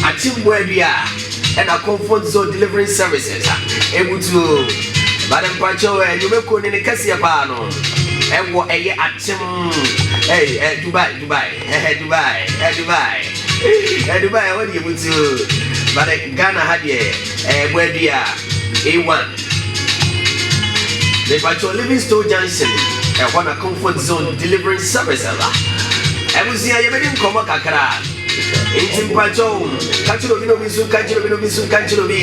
Atsembua bi a nna Comfort Zone Deliverance Services a ebutu ba no mpakyɛw eh, nnwuma kuo no ne kɛseɛ paa no ɛwɔ ɛyɛ atsem eh, eh, Dubai, Dubai, eh, Dubai, eh, Dubai, eh, Dubai ɛhɔ deɛ ebutu ba no Ghana ha deɛ eh, bua bi a A1 mepakyɛw Livingstone Junction ɛhɔ na Comfort Zone Deliverance Services a ɛbusua yɛbɛdi nkɔmmɔ kakra. Enti mpakyɛw, ka kyerɛ obi na obi nso nka nkyerɛ obi na obi nso nka nkyerɛ obi.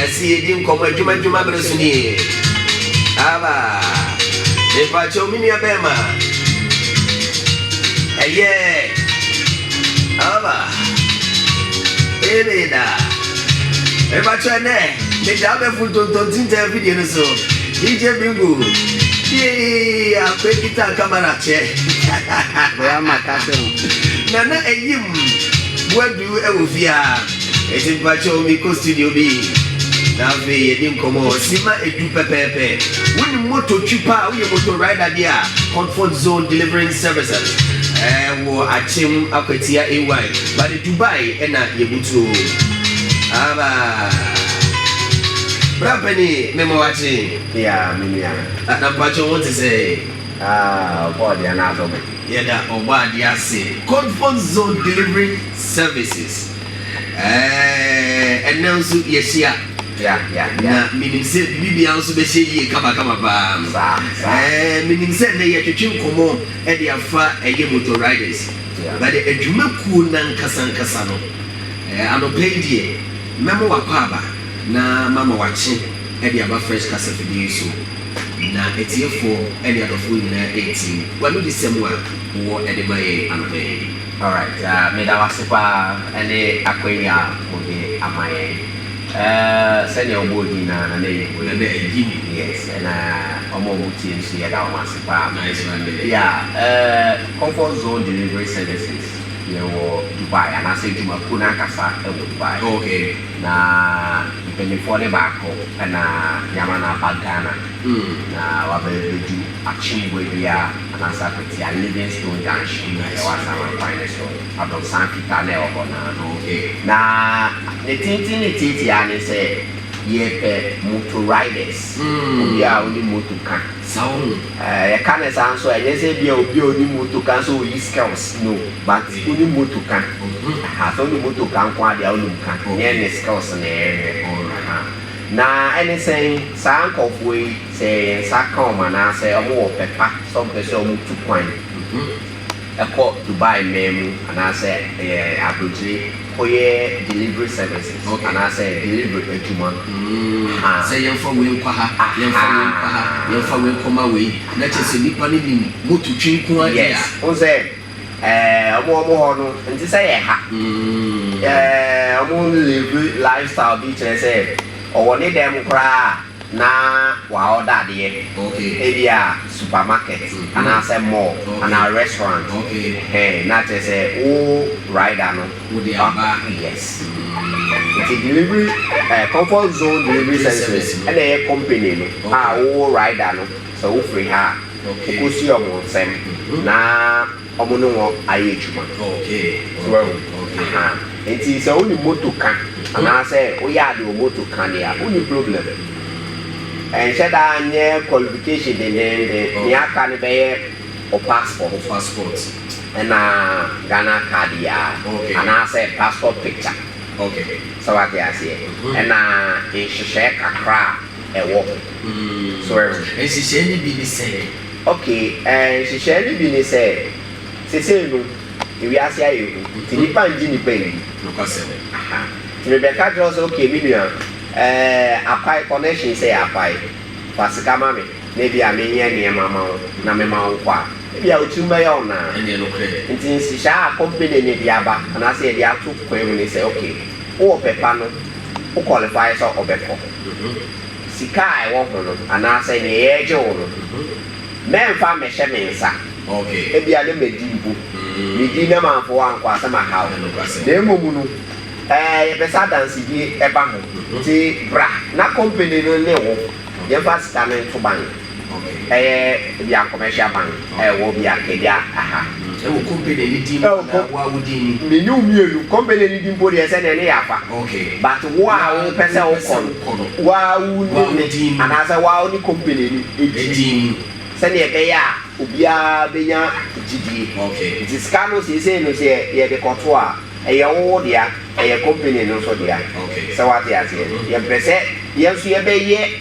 Ɛsi yɛdi nkɔmmɔ adwuma adwuma mmerɛ so nie. Aba, mepakyɛw me nua bɛrima. Ɛyɛ, aba, ɛmeda. Mepakyɛw ɛnɛ, meda abɛfo ntontontinta afidie no so. DJ Bingu Tiee Akwe Guitar Camera Check Bra ma ka se no. Nana Ayim Boadu wɔ fie a Enti mpakyɛw me kɔ studio bi Na afei yɛdi nkɔmmɔ Simma edu pɛpɛɛpɛ Wonim motor twi pa a woyɛ motor rider deɛ a Comfort Zone Deliverance Services Ɛwɔ Akyem Akwatia AY But Dubai na yebutu o aba. Bra pɛni me ma wakye. Yea me nua. Na na mpacho wo te sɛɛ. Aah ɔbɔ adeɛ no afa mu. Yɛda ɔbɔ adeɛ ase. Code phone zone delivery services ɛɛh ɛnɛ nso yɛhyia. Yeah yeah yeah. Na menim sɛ biribi biara nso bɛhyɛ yie kama kama paa. Saa saa. Ɛɛh menim sɛ ɛnɛ yɛtwetwe nkɔmmɔ ɛde afa ɛyɛ motor riders. Na deɛ adwumakuo no ankasankasa no, anɔpa yi deɛ, mɛma wakɔ aba na mama wakye de aba Fresh kasafidie yi so, na atiefoɔ ne adɔfoɔ nyinaa atie w'anodisɛm a wowɔ de ma yɛn anɔpa yi. Alright, meda wo ase paa ne akwanya a wode ama yɛn. Sɛdeɛ wobɔɔ din no ara, Nana Ayim. Nana Ayim. Yes, ɛna wɔn a wɔtie nso, yɛda wɔn ase paa. Nice one, Nana Ayim. Yeah, eh. Comfort Zone Delivery Services yɛwɔ Dubai anaasɛ adwumakuo no ankasa wɔ Dubai. Okay. Na mpaninfoɔ no baako na yɛama no aba Ghana na wabɛbɛdu Akyemboa dua anaasɛ Akwatia Livingstone Junction a ɛwɔ Asaman kwan no so, Abrɔsan fitaa no a ɛwɔ hɔ no ano. Okay. Na ne tenten ne tiatia ara ne sɛ yɛpɛ motor riders, obiara a ɔnim motor ka. Saa o. Yɛka no saa nso a, ɛnyɛ sɛ ebia obi a ɔnim moto ka nso ɔyi skills, no, but wonim moto ka, aha, sɛ wonim moto ka nko ara deɛ a, wonim ka, ɛnyɛ ne skills na yɛhwɛ, aha, na ɛne sɛn, saa nkorɔfoɔ yi, sɛ yɛn nsa ka wɔn anaasɛ wɔwɔ ɔpɛ pa sɛ wɔpɛ sɛ wɔtu kwan kɔ Dubai man mu anaasɛ ɛɛ abrokyire, Kɔyɛ delivery services anaasɛ delivery adwuma ha. Sɛ yɛmfa wei nkɔ ha, yɛmfa wei nkɔ ha, yɛmfa wei nkɔma wei. Na kyerɛ sɛ nnipa no nim moto twi nko ara deɛ a. Yes, wohu sɛ ɛɛ wɔn wɔn hɔ no nte sɛ yɛn ha. Ɛɛ wɔn live lifestyle bi kyerɛ sɛ ɔwɔ ne dɛm koraa a. na wɔaɔda adeɛ, ebia supermarket anaasɛ mall anaa restaurant ɛhɛn na kyerɛ sɛ wo rider no aba yes nti delivery ɛɛ comfort zone delivery services ɛna ɛyɛ company no a wo rider no sɛ wofiri ha a wokɔsi wɔn nsam na. Ɔmo ne wɔn ayɛ adwuma so ahu ahaa nti sɛ wonim moto ka anaasɛ woyɛ ade wɔ moto ka deɛ a wonni problem ɛnhyɛ da nyɛ qualification dendeenden nea aka no bɛyɛ wo passport ɛna Ghana card yi ara anaasɛ passport picture sɛ wate aseɛ ɛna nhyehyɛɛ kakra a ɛwɔ ho so ahu. Nhyehyɛɛ no bi ne sɛn? Ok, ɛɛ nhyehyɛɛ no bi ne sɛ, sesei no ewiase ayɛ hu nti nnipa ngye nnipa ndi. Nokwasɛm. Aha. Nti mebɛka kyerɛ wo sɛ ok me nua, ɛɛ akwae connections yɛ akwae, fa sika ma me na ebia menyɛ nneɛma ma wo na mema wo kɔ a, ebia wo tirim bɛyɛ wo naa. Ɛneɛ nokorɛ ni. Nti nhyehyɛɛ a company no de aba anaasɛ yɛde ato kwan mu ne sɛ ok, wowɔ pɛ pa no, wo qualify sɛ ɔbɛkɔ. Sika a ɛwɔ ho no anaasɛ nea yɛregye wo no, mɛmfa mmɛhyɛ me nsa. Ebia na madi mpo. Medi na mamfa wo ankɔ a, sɛ maha wo. Na mmom no, ɛɛ, yɛpɛ sɛ adansedie ba ho. Enti bra na kɔmpani no ne wo yɛmfa sika no nto bank. Ɛyɛ Obia Commercial Bank a ɛwɔ Obia Nkadia ha. Ɛwɔ company no din mu anaa wo a wo din ni? Me ne wo mmienu. Company no din mpo deɛ sɛdeɛ ne yɛ afa. But wo a wo pɛ sɛ wo kɔ no, wo a wo ne me anaasɛ wo a wo ne company no din mu sɛdeɛ ɛbɛyɛ a obiara bɛnya gyidie. Nti sika no seesei no sɛ yɛde kɔto a, ɛyɛ wo wo dea, ɛyɛ company no nso dea. Sɛ wo ate aseɛ? Yɛmpɛ sɛ yɛn nso yɛbɛyɛ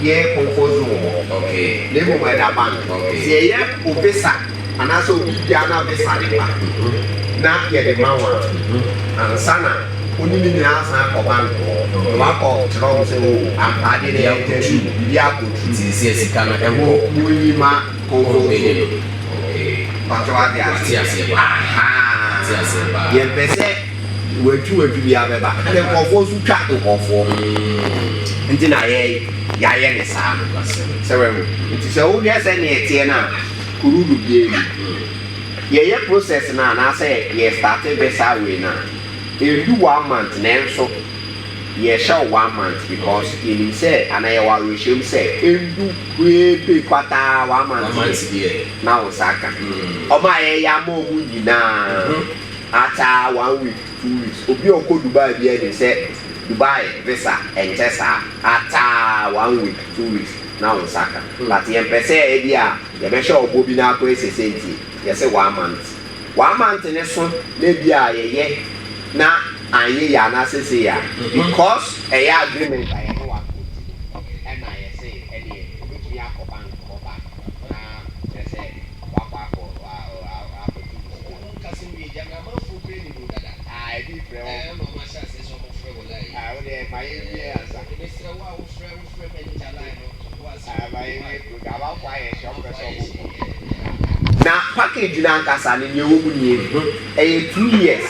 Yɛ comfort zone wɔ hɔ. Okay. Na mmom ɛda bank. Okay. Sɛ yɛyɛ wo visa anaasɛ wo biribiara na visa de ba na yɛde ma wo a, ansa na wo ne ne nyinaa asan akɔ bank hɔ na woakɔ kyerɛ wɔn sɛ oh ampa adeɛ no ɛyɛ true, biribi akɔ true. Nti ɛsɛ sika no ɛwɔ. Mo nyi ma comfort zone no. Okay. Mpakyɛw wate aseɛ? Mate aseɛ paa. Ahaa. Mate aseɛ paa. Yɛmpɛ sɛ. Watu watu bi abɛba ɛna nkurɔfoɔ nso twa nkurɔfoɔ nti na yɛ yɛayɛ ne saa no sɛ wɛho nti sɛ wohwɛ sɛ neɛ teɛ no a kurudu biara ni yɛyɛ process no anaasɛ yɛ starte visa wei no a ɛndu one month nanso yɛhyɛ wo one month because yɛnim sɛ anaa yɛwɔ awerɛhyɛm sɛ ɛndu hweepe kwataa one month na wo nsa aka ɔma yɛyɛ ama ɔmo nyinaa. After one week two weeks obi a ɔkɔ Dubai biara nim sɛ Dubai visa ɛnkyɛ saa after one week two weeks na wo nsa ka but yɛmpɛ sɛ ɛbi a yɛbɛhyɛ wo bɔ bi na akɔ ɛsɛ sɛ nti yɛse one month one month no so na ɛbi a yɛyɛ na anyɛ yie anaasɛ sei a because ɛyɛ agreement a yɛne wo ato nti no ɛna yɛse ɛneɛ wobɛtumi akɔ bank hɔ back na kyerɛ sɛ wakɔ akɔ akɔto wo sika. Na package no ankasa no nea ɛwɔ mu nie, ɛyɛ two years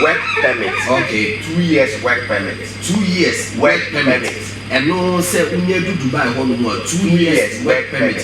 work permit, okay two years work permit, two years work permit, ɛno sɛ wonya du Dubai hɔ nom a two years work permit.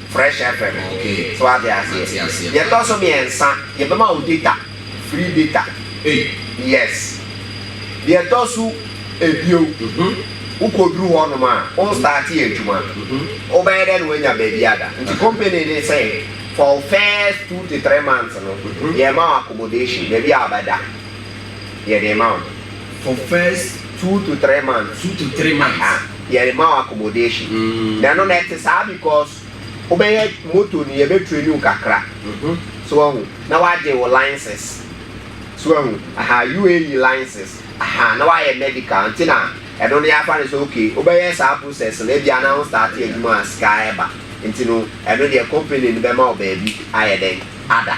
Fresh FM, so ate aseɛ. Deɛ ɛtɔ so mmiɛnsa, yɛbɛma wo data, free data, yes. Deɛ ɛtɔ so ebio, wokɔduru hɔ nom a, wo starte adwuma, wobɛyɛ dɛ na woanya baabi ada. Nti company no sɛ for wo first two to three months no, yɛma wo accommodation, baabi a wobɛda. yɛde rema wo no. For first two to three months. Two to three months. Aha, yɛde rema wo accommodation. Mm. Na ɛno na ɛte saa because wobɛyɛ moto no yɛbɛ train wo kakra. Mm-hmm. So ahu na wagye wo license. So ahu aha UAE license aha na wayɛ medical nti na ɛno no yɛafa no sɛ okay wobɛyɛ saa process no ebi ana wo start adwuma a sika ɛba nti no ɛno deɛ company no bɛma wo baabi ayɛ dɛn ada.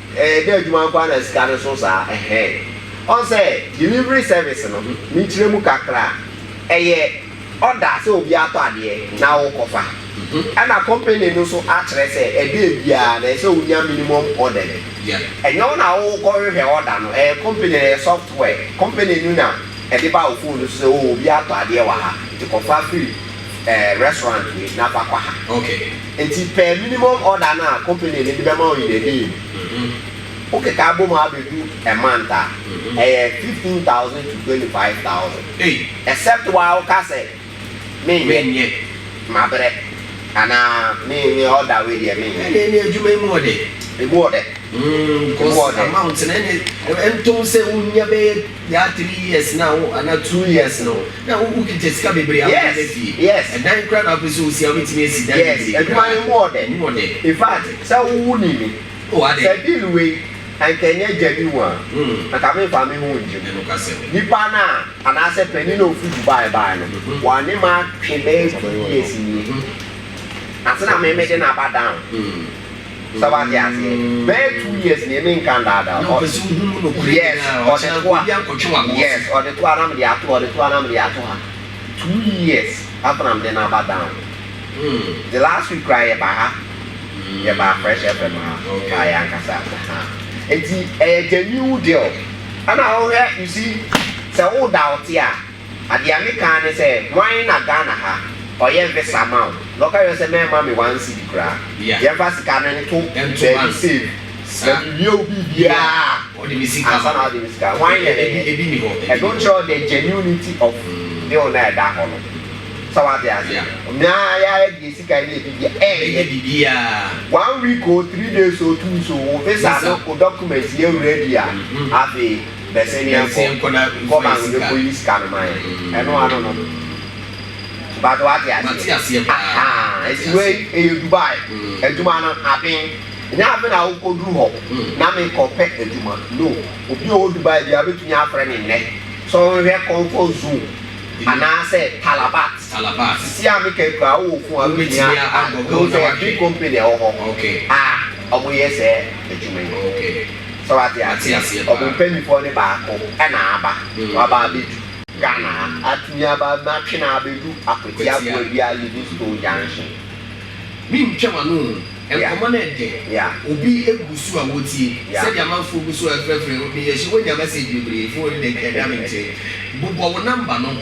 Ɛyɛ dɛ adwuma nkoaa na sika no so saa ɛhɛn. Ɔn sɛ delivery service no me nkyerɛ mu kakra a ɛyɛ order sɛ obi atɔ adeɛ na wo kɔ fa ɛna company no so akyerɛ sɛ ɛdɛ biaa na ɛsɛ wo nya minimum order bi ɛnyɛ wo na wo kɔ hwehwɛ order no ɛyɛ company no ɛyɛ software company no na ɛde ba wo phone no so sɛ oh obi atɔ adeɛ wɔ ha nti kɔ fa firi ɛɛ restaurant wei na fa kɔ ha. Enti pɛ minimum order no a company no de bɛma wo in a day no, wokeka bɔ mu a bɛdu a month a, ɛyɛ fifteen thousand to twenty five thousand. Except wo a woka sɛ menyɛ, mabrɛ, anaa me me order wei deɛ menyɛ. Ɛnneɛ ɛnneɛ adwuma yi mu ɔdɛ. Ɛmu ɔdɛ. Mm, Ɛmu because ɔdɛ. amount no ɛnneɛ ntom sɛ wonya bɛyɛ Yaa three years na wo anaa two years no na wo wo kita sika bebree a wode bɛ fie yes ɛdan kura na wopɛ sɛ osi a wobɛtumi asi dan yes bebree adwuma kura no mu ɔdɛ ɛmu ɔdɛ in fact sɛ wo wo ni mi oh adɛ sɛ deal wei anka ɛnyɛ gya bi mu a hmm anka me nfa me ho ngye mu ɛno ka sɛ me nipa no a anaa sɛ panin na ofi Dubai bae no mhm wa ne ma twe bɛyɛ two ɔbɛyɛ ɔdɔ years nie mhm ansa na me me de no aba down hmm. Sɛ wate aseɛ. Bɛyɛ two years nie me nka ndaadaa wo. Yes ɔde toa yes ɔde toa na mede ato ha ɔde toa na mede ato ha two years after na mede no aba down. The last week koraa yɛ ba ha yɛ ba fresh fm ha kaa yɛ ankasa ha nti ɛyɛ genuine deal ɛna wohwɛ you see sɛ wo doubt a. Adeɛ a mekaa ne sɛ wan na Ghana ha ɔyɛ visa ma wo na ɔka kyerɛ wo sɛ mɛmma me one cedi koraa, yɛmfa sika no nto baabi safe na mewie wo biribiara ansa na wode me sika, wan na ɛyɛ? Ɛno kyerɛ the genuinity of bill no a ɛda hɔ no. Sɛ wate aseɛ? Meaa yɛ ayɛ deɛ sika nyɛ biribiara, ɛnyɛ one week oo, three days oo, two weeks oo, wo visa no, wo documents yɛ ready a, afei. Bɛsɛ ne yɛnkɔ kɔ bank ne kɔ yi sika no ma yɛn ɛno ano no but wate aseɛ ahaa esi wei ɛyɛ Dubai adwuma no aben nyɛ aben na wokɔ duru hɔ na me kɔ pɛ adwuma no obi ɔwɔ Dubai bia betumi afrɛ me nnɛ sɛ ɔnhwɛ comfort zone anaasɛ Talabat sisi a me kɛ kura wowɔ fun a wobɛtumi a ɛwɔ sɛ big company ɛwɔ hɔ a ɔmo yɛ sɛ adwuma yi. Sɛ wate ase a, ɔbompanyimfoɔ no baako na aba, waba abɛdu Ghana ha. Atumi aba atwe no abɛdu Akwati Aboa Dua Livingstone Junction. Me ntwa m'ano o, nkɔmmɔ no ɛdɛ, obi gu so a wotie, sɛdeɛ amanfoɔ gu so ɛfrɛfrɛ, meyɛ sure woanya message bebree, phone no deɛ nka ɛda me nkyɛn, bobɔ wo number no.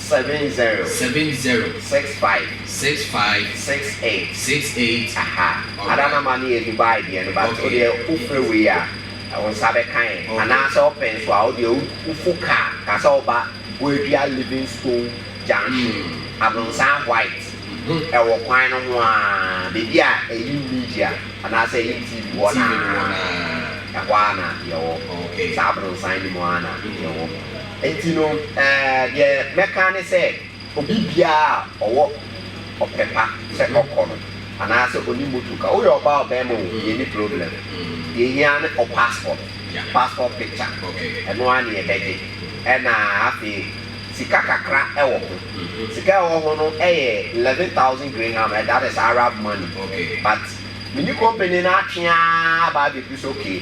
Seven zero. Seven zero. Six five. Six five. Six eight. Six eight. Aha. Alright. Ada number no yɛ Dubai deɛ no but Okay. wo deɛ wo frɛ wei a wo nsa bɛka yɛn Okay. anaa sɛ ɔpɛ nso a wo deɛ wo wo fu car ka sɛ woba Boadua Livingstone junction Mm. Abronsan white Mhm. ɛwɔ kwan no ho aa baabi a Ayim media anaa sɛ Ayim TV wɔ no TV no wɔ no aa aa. ɛhɔ aa na yɛwɔ Okay. saa Abronsan no mu aa na yɛwɔ. Enti no, deɛ mɛka ne sɛ, obi biara a ɔwɔ ɔpɛ pa sɛ ɔkɔ no, anaasɛ ɔnim motor ka, woyɛ ɔbaa ɔbarima o, yɛnni problem. Deɛ ɛhia ne wo passport, passport picture, ɛno ara na yɛbɛgye. Ɛna afei sika kakra wɔ ho. Sika a ɛwɔ ho no yɛ eleven thousand graham, that is Arab money. But me ne company no atwe ara aba abɛduru sɛ okay,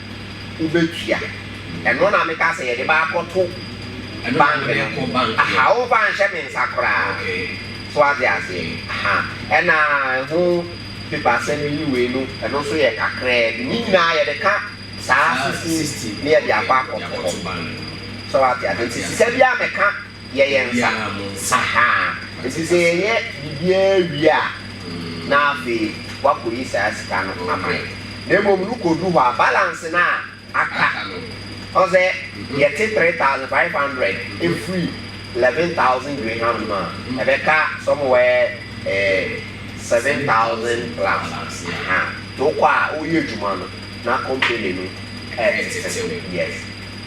wobɛtua. Ɛno na meka sɛ yɛde bɛakɔto bank no. Aha, womfa nhyɛ me nsa koraa. So ate aseɛ? Aha. Ɛna ɛho paper sɛm yi ne wei no, ɛno nso yɛ kakraa bi. Ne nyinaa yɛde ka saa sixteen na yɛde akɔ akɔto hɔ. So ate aseɛ? Nti sika biara a meka yɛ yɛn nsa sahaa. Enti sɛ yɛyɛ biribiara wie a, na afei wɔakɔyi saa sika no ama yɛn. Na mmom no, kɔdu hɔ a, balance no a aka no, ɔhu sɛ yɛte three thousand five hundred firi eleven thousand dirham no mu a, ɛbɛka somewhere eh, seven thousand plus. Aha. Nti wokɔ a, woyɛ adwuma no, na company no retetew. Yes.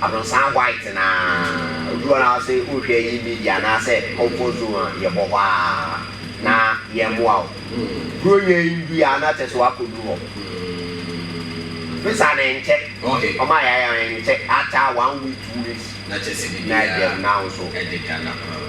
Abrɔsan white na obi wɔ hɔ na ɔse wohwɛ yi media anaasɛ comfort zone a yɛbɔ hɔ a na yɛmmoa wo kuro nyɛ ndui a na kyɛsɛ wakɔduru hɔ visa no nkyɛ ɔma yɛayɛ a nkyɛ after one week two weeks na ɛdɛm na wo nso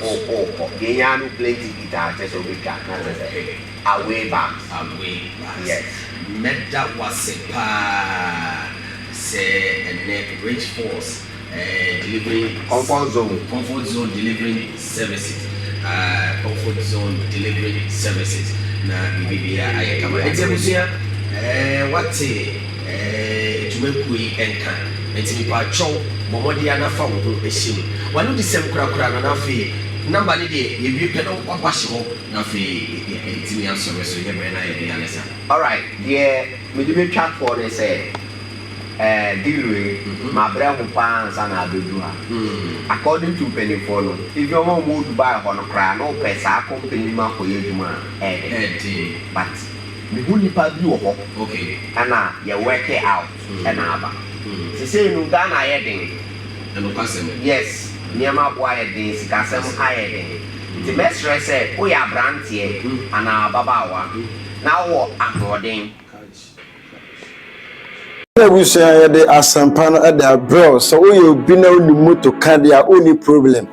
wokɔ deɛ ɛhia no plane ticket a kyɛsɛ wobɛtwa na kyɛsɛ Away back. Away back. Yes. Mɛda wo ase paa sɛ ɛnnɛ Rich Force eh, delivering. Comfort Zone. Comfort Zone delivering services ah, Comfort Zone delivering services na biribiara ayɛ kama. Enti abusua eh, woate eh, dwumakuo yi nka. Enti mepaatwɔw, bɔ mmɔden ara na fa wo ho hyɛ mu. W'anodisɛm korakora no na afei number no deɛ, yɛwie pɛ na w'aba hyɛ hɔ. Afei yɛatumi asɔre so yɛ berɛ na yɛde alesa. Alright, deɛ mede mɛtwa toɔ ne sɛ eh, deal wei mabrɛ ho paa ansa na abɛduru ha. According to mpanimfoɔ no, even wɔn a wɔwɔ Dubai hɔ no koraa no pɛ saa company no mu akɔyɛ adwuma a, ɛyɛ den. Ɛyɛ den. But mehu nnipa bi wɔ hɔ Okay. ɛna yɛ work it out ɛna aba. Seisei no Ghana ayɛ den. Nokwasɛm. Yes, nneɛma aboa ayɛ den, sikasɛm ayɛ den. Enti mɛsrɛ sɛ woyɛ aberanteɛ anaa ababaawa na wowɔ ahoɔden. Yɛn abusua a yɛde asɛmpa no de abrɛ wo sɛ woyɛ obi na wonim moto ka deɛ a wonni problem.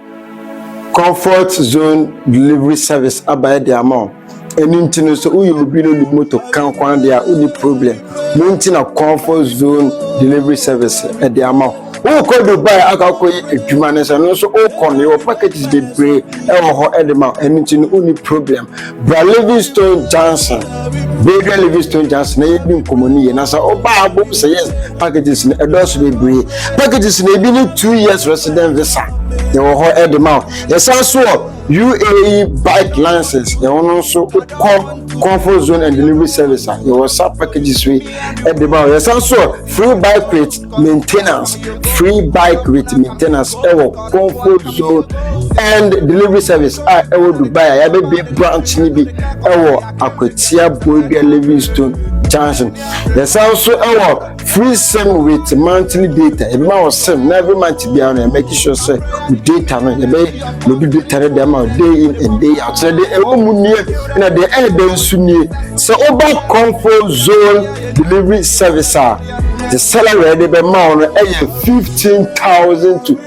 Comfort Zone Delivery Service aba de ama wo. Ɛno nti no sɛ woyɛ obi no ne moto ka ho adeɛ a wonni problem. Mo nti na comfort zone delivery service ɛde ama ho. Wokɔ Dubai akɔ akɔyɛ adwuma no sɛ no nso wokɔ no yɛwɔ packages bebree ɛwɔ hɔ ɛde ma ɛno nti no wonni problem. Bra Livingstone Johnson, Bradua Livingstone Johnson na yɛdi nkɔmmɔ no yie na sɛ woba abom sɛ yes packages no ɛdɔɔso bebree. Packages no ebi ne two years resident visa yɛwɔ hɔ ɛde ma ho. Yɛsan so wɔ UAE bike license yɛn no nso kɔ comfort zone and delivery service a yɛwɔ sa packages yi de ba hɔ yɛsan so free bike with maintenance free bike with maintenance ɛwɔ comfort zone and delivery service a ɛwɔ dubai a yɛabɛbie branch no bi ɛwɔ akwatia boadua livingstone junction yɛsan so ɛwɔ free sim with monthly data ebi ma wɔ sim na every month biara no yɛmɛki sure sɛ o data no yɛbɛ na obi data no dɛm a day in and day out sɛ deɛ ɛwɔ mu nie na deɛ ɛyɛ dɛ nso nie sɛ woba comfort zone delivery service a the salary de bɛ ma wo no ɛyɛ fifteen thousand to.